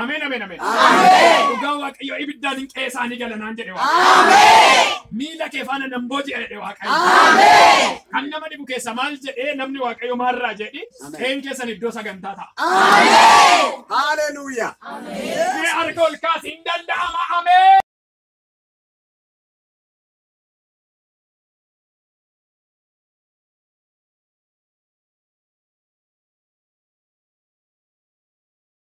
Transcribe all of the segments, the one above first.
Ameen ameen ameen. Dhugaa Waaqayyo ibiddaan hin qe'ee isaanii gala naan jedhe Waaqayyo. Miila kee faana nan booji'a jedhe Waaqayyo. Kan nama dhibu keessa maal jedhee namni Waaqayyo maarraa jedhi qe'een keessan iddoo sagantaa ta'a. Hallelujah. Mee harka ol kaasi hin danda'ama ameen.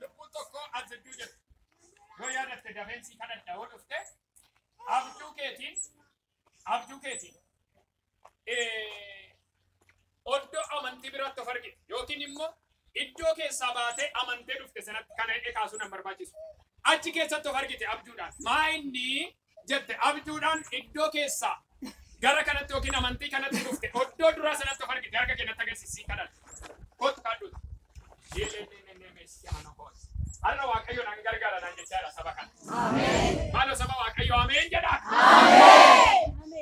Lubbuun tokko as jidduu jirti. Yoo yaadatte dafeensii kadhadha yoo dhufte abjuu keetiin abjuu keetiin oddoo amantii biraatti of argite yookiin immoo Iddoo keessaa baatee amantee dhufte sanatti kana hidhee kaasuun hin barbaachisu. Achi keessatti of argite abjuudhaan. Maa inni jette abjuudhaan iddoo keessaa gara kanatti yookiin amantii kanatti dhufte oddoo duraa sanatti of argite harka keenyatti agarsiisii kadhadha. Kottu kadhuuti. Har'a Waaqayyo nan gargaara naan jechaa jira saba kana. Maaloo saba Waaqayyo ameen jedhaa.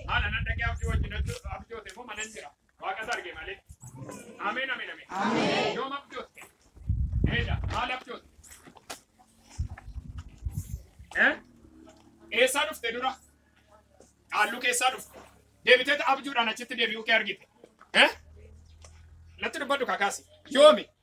Maala nan dhaqee abjuu wajjin abjoote immoo manan jira. Waaqa isa arge malee. Ameen ameen ameen. Ameen. Yoom abjootte? Eeda maal abjootte? Eh? Eessaa dhufte dura? Qaalluu keessaa dhufte. Deebitee abjuudhaan achitti deebi'uu kee argite. Eh? Natti dubbadhu kakaasi. Yoomi?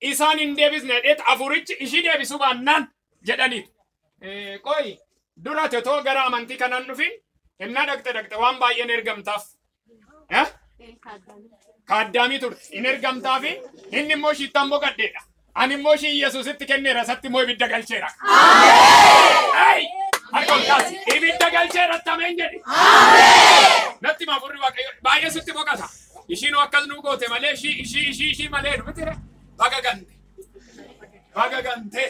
isaan hin deebisne jedheet afuurichi ishii deebisuu baannaan jedhaniitu. Qoyi dura tetoo gara amantii kanaan dhufin innaa dhaqxe dhaqxe waan baay'een ergamtaaf. Kaaddaamii turte hin ergamtaafi inni immoo shiittaan boqaddeedha. Ani immoo ishii Yesuusitti kenneera isatti immoo ibidda galcheera. Harka ol kaasi ibidda galcheera tameen jedhe. Natti maafurri waaqayyo baay'ee sitti boqata. Ishiinuu akkas nuu goote malee ishii ishii ishii ishii malee dhumitire baga gante. Baga gante.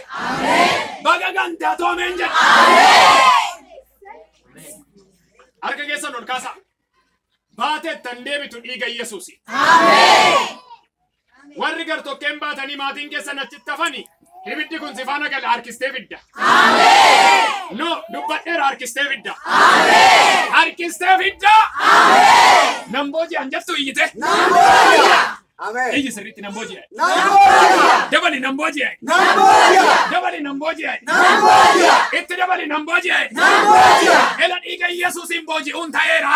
Baga gante atoo ameen jedha. Harka keessan ol kaasaa. Baate tan deebitu dhiiga Yesuusi. Warri gartokkeen baatanii maatiin keessan achitti hafani ibiddi kun sifaana gala harkistee fidda. No dubbadheera harkistee fidda. Harkistee fidda. Nan booji'an jettu iyyite. Iyyi sirriitti nan booji'an. Dabali nan booji'an. Dabali nan booji'an. Itti dabali nan booji'an. Ela dhiiga Yesuusiin booji'uun ta'eera.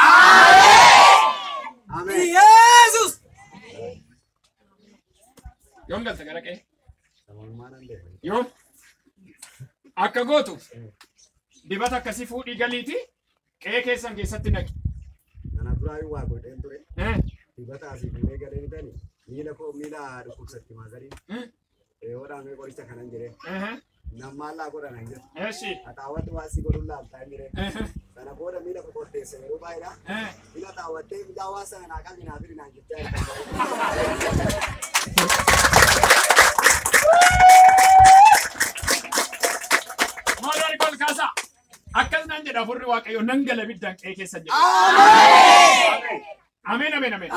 Yesus! Yoom galta gara qe'ee? Yoom? Akka gootu dibata akkasii fuudhii galiiti qe'ee keessan keessatti naqi. Kana duraa yoo waa godheen ture Eh, dibata asii fuudhee galee bitani miila koo miila dhukkubsatti maazariin eh. Reewoodhaan mee qoricha kanan jiree. Nammaallaa godhanan jiru. Haxaawwatti waan si godhuun laaltaa jiree. Sana booda miila qoqqorteessa yeroo baay'eedha. Miila xaawwattee miila waan sana naa qalli naa firi naan jirti. Maadaari kol kaasaa. Akkas naan jedha furri waaqayyo nan gala biddaan qe'ee keessa jedha. Ameen. Ameen ameen ameen.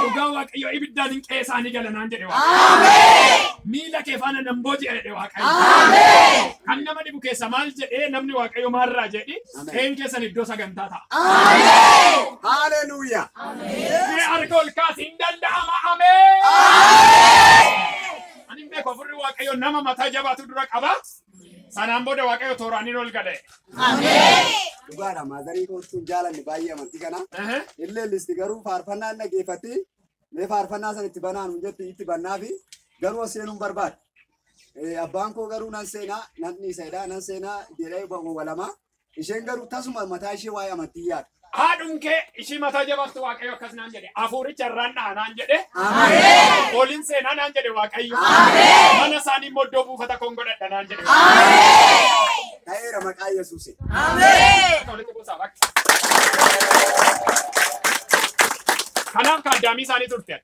Dhugaa Waaqayyoo ibiddaan hin qe'ee isaanii gala naan jedhe Waaqayyo. Miila kee faana nan booji'a jedhe Waaqayyo. Kan nama dhibu keessa maal jedhee namni Waaqayyo maarraa jedhi Ameen. qe'een keessan iddoo sagantaa ta'a. Hallelujah. Mee harka ol kaasi hin danda'ama ameen. Ani hin beeku afurri Waaqayyo nama mataa jabaatu dura qaba. Sanaan booda Waaqayyo tooraan hin ol gale. Dhugaadha maazarii kootuun jaalanne baay'ee amantii kana. Ehe. Illee listi garuu faarfannaa hin dhaggeeffatti. Mee faarfannaa sana itti banaan hin jetti itti bannaa fi garuu as seenuun barbaada. Eh, Abbaan koo garuu nan seenaa nan dhiisedha nan seenaa jedhee wawalama. Isheen garuu tasuma mataa ishee waa'ee amantii yaada. Haadhuun kee ishii mataa jabaattu Waaqayyo akkas naan jedhe. Hafuuricha irraan dha'a naan jedhe. Ameen. Oliin seenaa naan jedhe Waaqayyo. Ameen. Mana isaanii immoo iddoo buufata koon godhadha naan jedhe. Ta'eera maqaa Yesuusiin. Akka walitti buusaa bakka. Kanaaf kaaddaamii isaanii turte.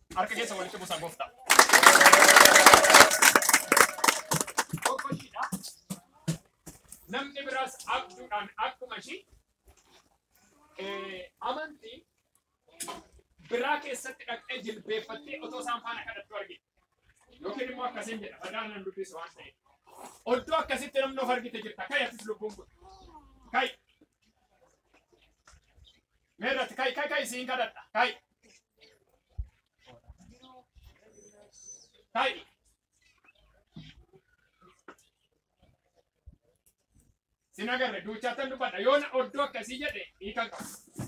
Harka keessa walitti busaa gooftaa. Tokko ishiidha. Namni biraas abjuudhaan akkuma ishii eh, amantii biraa keessatti dhaqxee jilbeeffattee otoo isaan faana kadhattu argite. Yookiin immoo akkasiin jedha. Badaan nan dubbisu waan ta'eef. Oddoo akkasitti namni of argite jirta. Ka'i atis lubbuun kun. Ka'i. Mee irratti ka'i ka'i ka'i siin kadhadha ka'i. Ka'i. Sin agarre duuchaattan dubbadha yoo na oddoo akkasii jedhe hiikan qaba.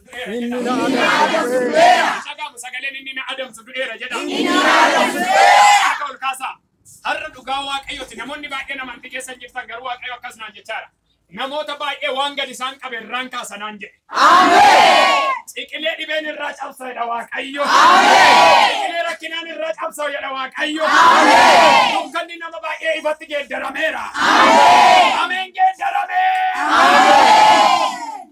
Inni na adamsu du'eera. Dhaga'amu sagaleen inni na adamsu du'eera jedha. Inni na adamsu du'eera. Akka ol kaasaa. Har'a dhugaa waaqayyooti. Namoonni baay'een amantii keessa jirtan garuu waaqayyo akkas naan jechaara. Namoota baay'ee waan gadi isaan qabe irraan kaasa naan jedhe. Ciqilee dhibeen irraa cabsa jedha waaqayyo. Ciqilee rakkinaan irraa cabsa jedha waaqayyo. Dukkanni nama baay'ee ifatti geeddarameera. Ameen geeddaramee.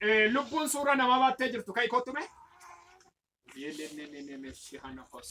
Eh, lubbuun suuraa namaa baattee jirtu ka'i kottu mee. Yeelelelelele, si hana kos.